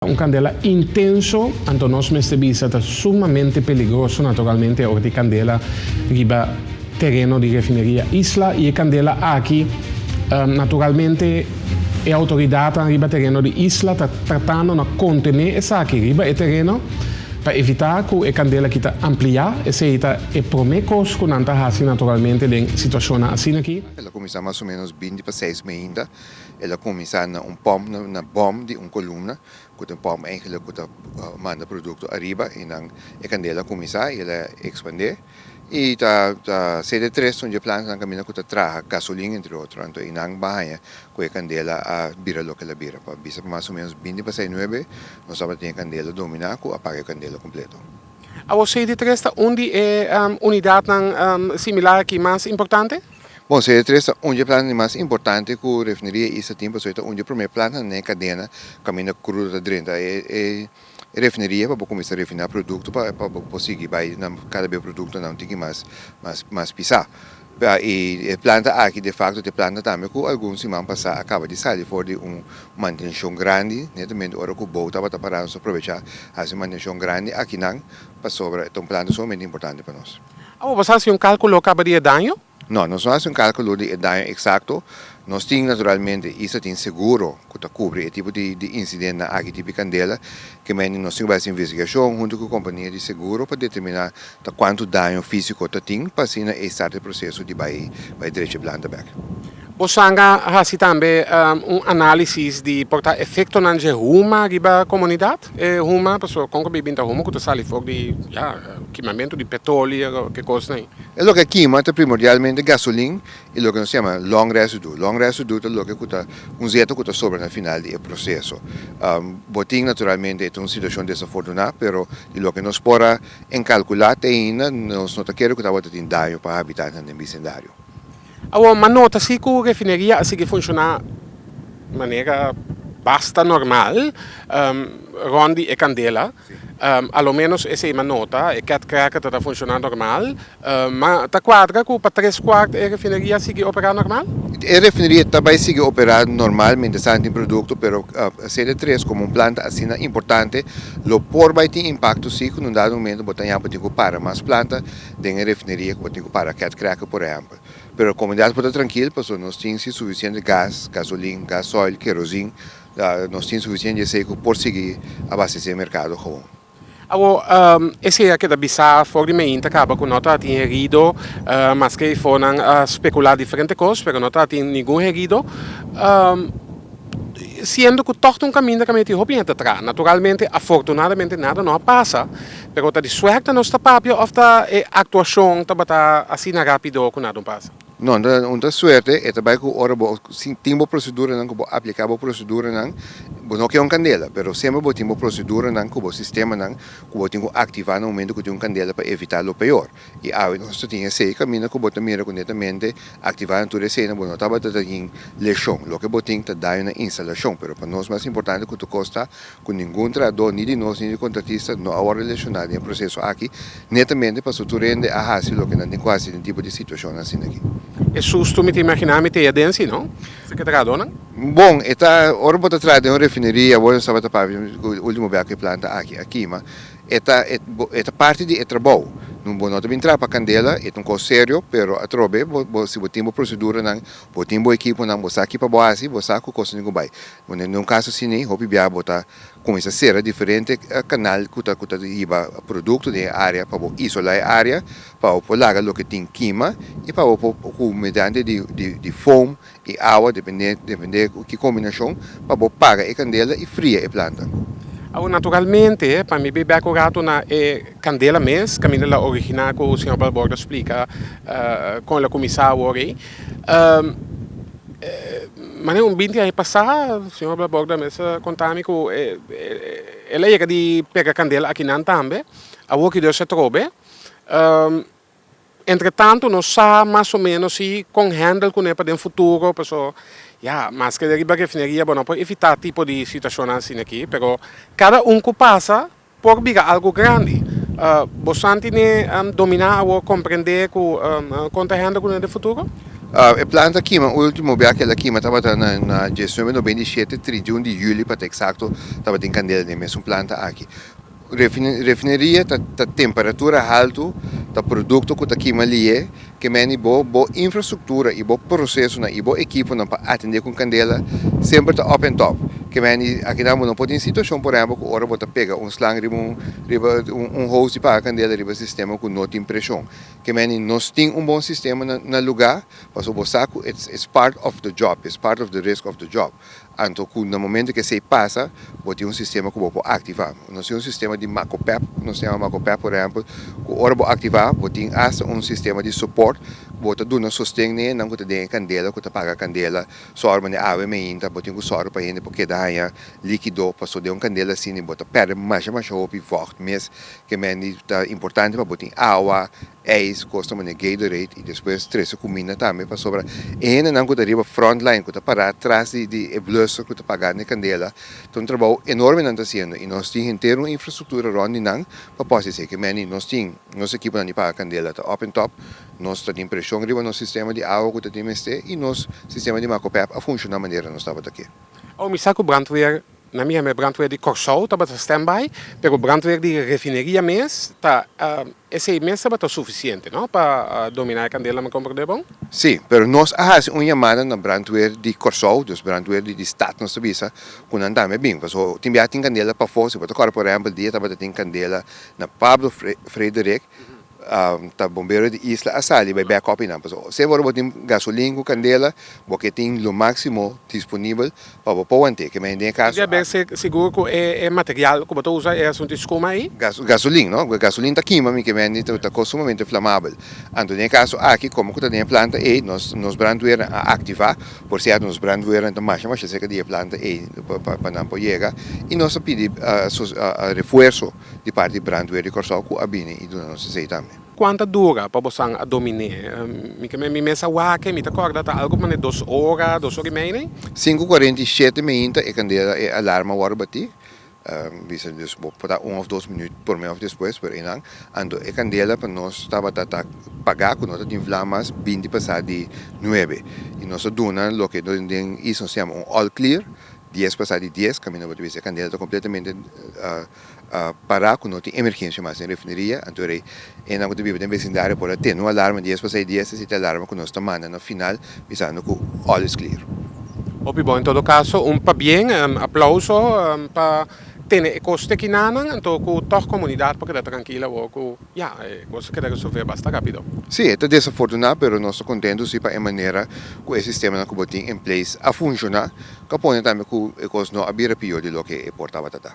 Un kandela intenso, anto nos mester bisa, ta sumamente peligroso naturalmente e ora di kandela riba tereno di refineria Isla y e kandela aki naturalmente e autoridadnan riba tereno di Isla ta tratando na contene esaki riba e tereno pa evita cu e kandela ki ta amplia, esey ta e prome cos cu nan ta haci naturalmente den situacionnan asina ki. El a cuminsa mas o menos binti pa seis mainda. El a kuminsá na un pòmp, na bòm di un kolumna ku ta un pòmp enkele ku ta manda produkto ariba i nan e kandela a kuminsá i el a ekspandé. I ta ta ser e tres tundje plantanan kaminda ku ta traha gasolin entre otro. Anto i nan ban haña ku e kandela a bira loke el a bira. Pa bisa ku mas o ménos binti pasá e nuebe nos tabata tin e kandela dominá ku apaga e kandela kompleto. Awor Seiditres ta un di e unidatnan similar aki mas importante. Bon, se e tres ta un dje planta di mas importante ku refineria East ta tin pasobra e ta un dje promé planta n'e kadena kaminda krudo ta drenta e refineria pa bo kuminsá refiná produkto pa bo por sigui bai nan kada bes produktonan un tiki mas mas pisá i e planta aki defakto ta e planta tambe ku algun siman pasá a kaba di sali for di un mantenshon grandi netamente ora ku Bou tabata pará nos a provechá hasi mantenshon grandi akinan pasobra e ta un planta sumamente importante pa nos. Awa, boso a hasi un kalkulo kaba di e daño? No, nos no hasi un kalkulo di e daño eksakto. Nos tin naturalmente i sa tin seguro ku ta kubri e tipo di insidentnan aki tipi kandela. Ke mende nos tin ku bai hasi investigashon huntu ku kompania di seguro pa determiná ta kuantu daño físiko ta tin pa asina ei start e proseso di bai drecha e planta bèk. Bo sanga a hasi tambe un análisis di por ta efektonan dje huma riba komunidat? E huma, pasobra kon ku bai binta huma ku ta sali for di, ya, kimamentu di petrolio o ke kos nei? E loke a kima ta primordialmente gasolin i loke nos yama long residue. Long residue ta loke ku ta un zeta ku ta sobra na final di e proseso. Bo tin naturalmente e ta un situashon desafortuná, pero di loke nos por a enkalkulá te ainda nos no ta kere ku tabata tin daño pa habitatnan den bisendario. Awor m'a nota si cu refineria a sigui funciona manera basta normal rond di e candela. A lo menos esey m'a nota, e cat cracker ta ta funciona normal. Ma ta cuadra cu pa tres cuart e refineria a sigui opera normal? E refineria ta bay sigui opera normal mientras tan tin producto, pero esey de tres como un planta asina importante lo por bay tin impacto si cu na un dado momento bo ta yapo tin cu para mas planta. den e refineria ku bo tin ku para cat cracker por ehempel pero komunidat por ta trankil pasobra nos tin si sufisiente gas, gasolin, gasoil, kerosin, nos tin sufisiente di esei ku por sigui abastesé merkado gawon. Awor esei a keda bisá for di Mayin ta kaba ku no ta tin herido maske e fonan a spekulá diferente kos pero no ta tin ningun herido siendo ku tòg ta un kaminda kaminda tin hopi hende ta traha naturalmente afortunadamente nada no a pasa. Pero ta di suerte nos ta papia of ta e actuacion tabata asina rapido cu nada un pasa? No, un ta suerte, e ta bay cu ora bo tin bo proceduranan cu bo aplica bo proceduranan, bo no ke un candela, pero semper bo tin bo proceduranan cu bo sistemanan cu bo tin cu activa na momento cu tin un candela pa evita lo peor. I awe nos ta tin esei kaminda ku bo ta mira ku netamente aktivá na tur esena bo no tabata ta tin leshon. Loke bo tin ta daño na instalashon, pero pa nos mas importante ku tokos ta ku ningun trahadó ni di nos ni di kontratista no a wòrdu leshoná den e proseso aki, netamente paso tur hende a hasi loke nan tin ku hasi den tipo di situashon asina aki. E susto mi ta imaginá mi ta e den si no serka trahadónan. Bon, e ta ora bo ta traha den un refineria, bo no tabata papia ku ultimo bia ku e planta aki a kima. E ta e ta parti di e trabou. Nu bo no ta bin trapa candela, e ta un cos serio, pero atrobe bo si bo tin bo proceduranan, bo tin bo equiponan, bo sa ki pa bo haci, bo sa cu cos tin cu bay. Unda un caso asini, hopi biaha bo ta cuminsa cera diferente canal cu ta cu ta hiba producto den e area pa bo isola e area, pa bo por laga loke tin kima y pa bo por cu mediante di di di foam E awa depende depende ku ki kombinashon pa bo paga e kandela i fria e planta. Awor naturalmente pa mi bebé ku ratu na e kandela mes kaminda el a originá ku señor Balbordo a splika kon el a kuminsá awor ei. Mane un binti aña pasá señor Balbordo a mester a kontá mi ku el a yega di pega kandela akinan tambe awor ki Dios a trobe. Entretanto nos sa mas o menos si con handle cune pa den futuro paso ya maske de riba refineria bo no por evita tipo di situacionnan asina aki pero cada un cu pasa por bira algo grandi bo santi ne domina awor comprende cu con ta handle cune den futuro? E plan ta kima ultimo bia akel a kima tabata na diesnuebe nobenta i shete trintiun di juli pa ta exacto tabatin candela den mesun planta aki. Refineria ta temperatura haltu, ta produkto ku ta kima liye, ke meni bo, bo infrastruktura i bo prosesonan i bo ekiponan pa atendé ku kandela semper ta òp en tòp. Ke meni akinan bo no por tin situashon por ehèmpel ku ora bo ta pega un slang riba un riba un hose di paga kandela riba sistema ku no tin preshon. Ke meni nos tin un bon sistema na lugá pasobra bo sa ku its its part of the job, its part of the risk of the job. Anto cu na momento cu esey pasa, bo tin un sistema cu bo por activa. Nos tin un sistema di Macopep, cu nos ta yama Macopep por ehempel, cu ora bo activa, bo tin hasta un sistema di support cu bo ta duna sosten na enan cu ta den e candela, cu ta paga candela. Sor mande awe me hinta, bo tin cu sor pa hende por keda haya liquido, paso den un candela asina bo ta perde masha, masha hopi vocht mes. Kemen di ta importante pa bo tin awa, ijs cos ta mane Gatorade y despues trece cuminda tambe pasobra e hende nan cu ta riba front line cu ta para tras di di e blusser cu ta pagando e candela ta un trabao enorme nan ta haciendo y nos tin henter un infrastructura rond di nan pa post hesi eke meni nos tin nos equiponan di paga candela ta up en top nos ta tin presion riba nos sistema di awa cu ta tin mester y nos sistema di macopep a funciona manera nos tabata ke. Awor mi sa cu brandweer Na mi hèmber brandweer di Kòrsou tabata standby, pero brandweer di refineria mes ta esei mes tabata sufisiente no pa dominá e kandel na Macombro de Bon? Sí, pero nos a hasi un yamada na brandweer di Kòrsou, dus brandweer di di stat nos ta bisa ku nan tambe a bin, pasobra bo tin bia tin kandela pafó, si bo ta kòrè por ehèmpel dia tabata tin kandela na Pablo Fre Frederick Ta bombero di isla a sali bai bek kopi nan pasobra sef ora bo tin gasolin ku kandela bo ke tin lo maksimo disponibel pa bo pou ante ke mester den e kaso. Bo ke bai ser sigur ku e material ku bo ta usa e asuntu di skuma ei. Gasolin no paske gasolin ta kima mi ke mendi ta kos sumamente flamabel anto den e kaso aki komo ku ta den e planta ei nos nos brandweernan a aktivá por siat nos brandweernan ta masha masha serka di e planta ei pa nan por yega i nos ta pidi refuerso. di parti di Brandweer di Kòrsou ku a bini i duna nos esei tambe. Kuanta dura pa bosan a dominé? Mi ke mi mes a wak, mi ta kòrda ta algu manera dos ora, dos ora i mei nei. Sinku kuarenta i shete meinta e kandela, e alarma wòrdu batí. Bisa dus bo por ta un òf dos minüt promé òf despues, pero einan. Anto e kandela pa nos tabata ta pagá ku no ta tin vlam mas binti pasá di nuebe. I nos a duna loke nos den East nos yama un all clear. Dies pasá di dies kaminda bo ta bisa e kandela ta kompletamente pará ku no tin emergensia mas den refineria, anto rei e nan ku ta biba den besindario por a tene un alarma dies pasá di dies ta sinti alarma ku nos ta manda na final bisando ku òl es klir. Hopi bon. En todo kaso un pabien aplauso pa tene e kos te kinanan anto ku tòg komunidat por keda trankil awor ku Ya, e cosa keda resolve basta rapido. Sí, e ta desafortuná, pero nos ta contentu si pa e manera cu e sistemanan cu bo tin en place a funciona, ca pone tambe cu e cos no a bira pior di loke e por tabata ta.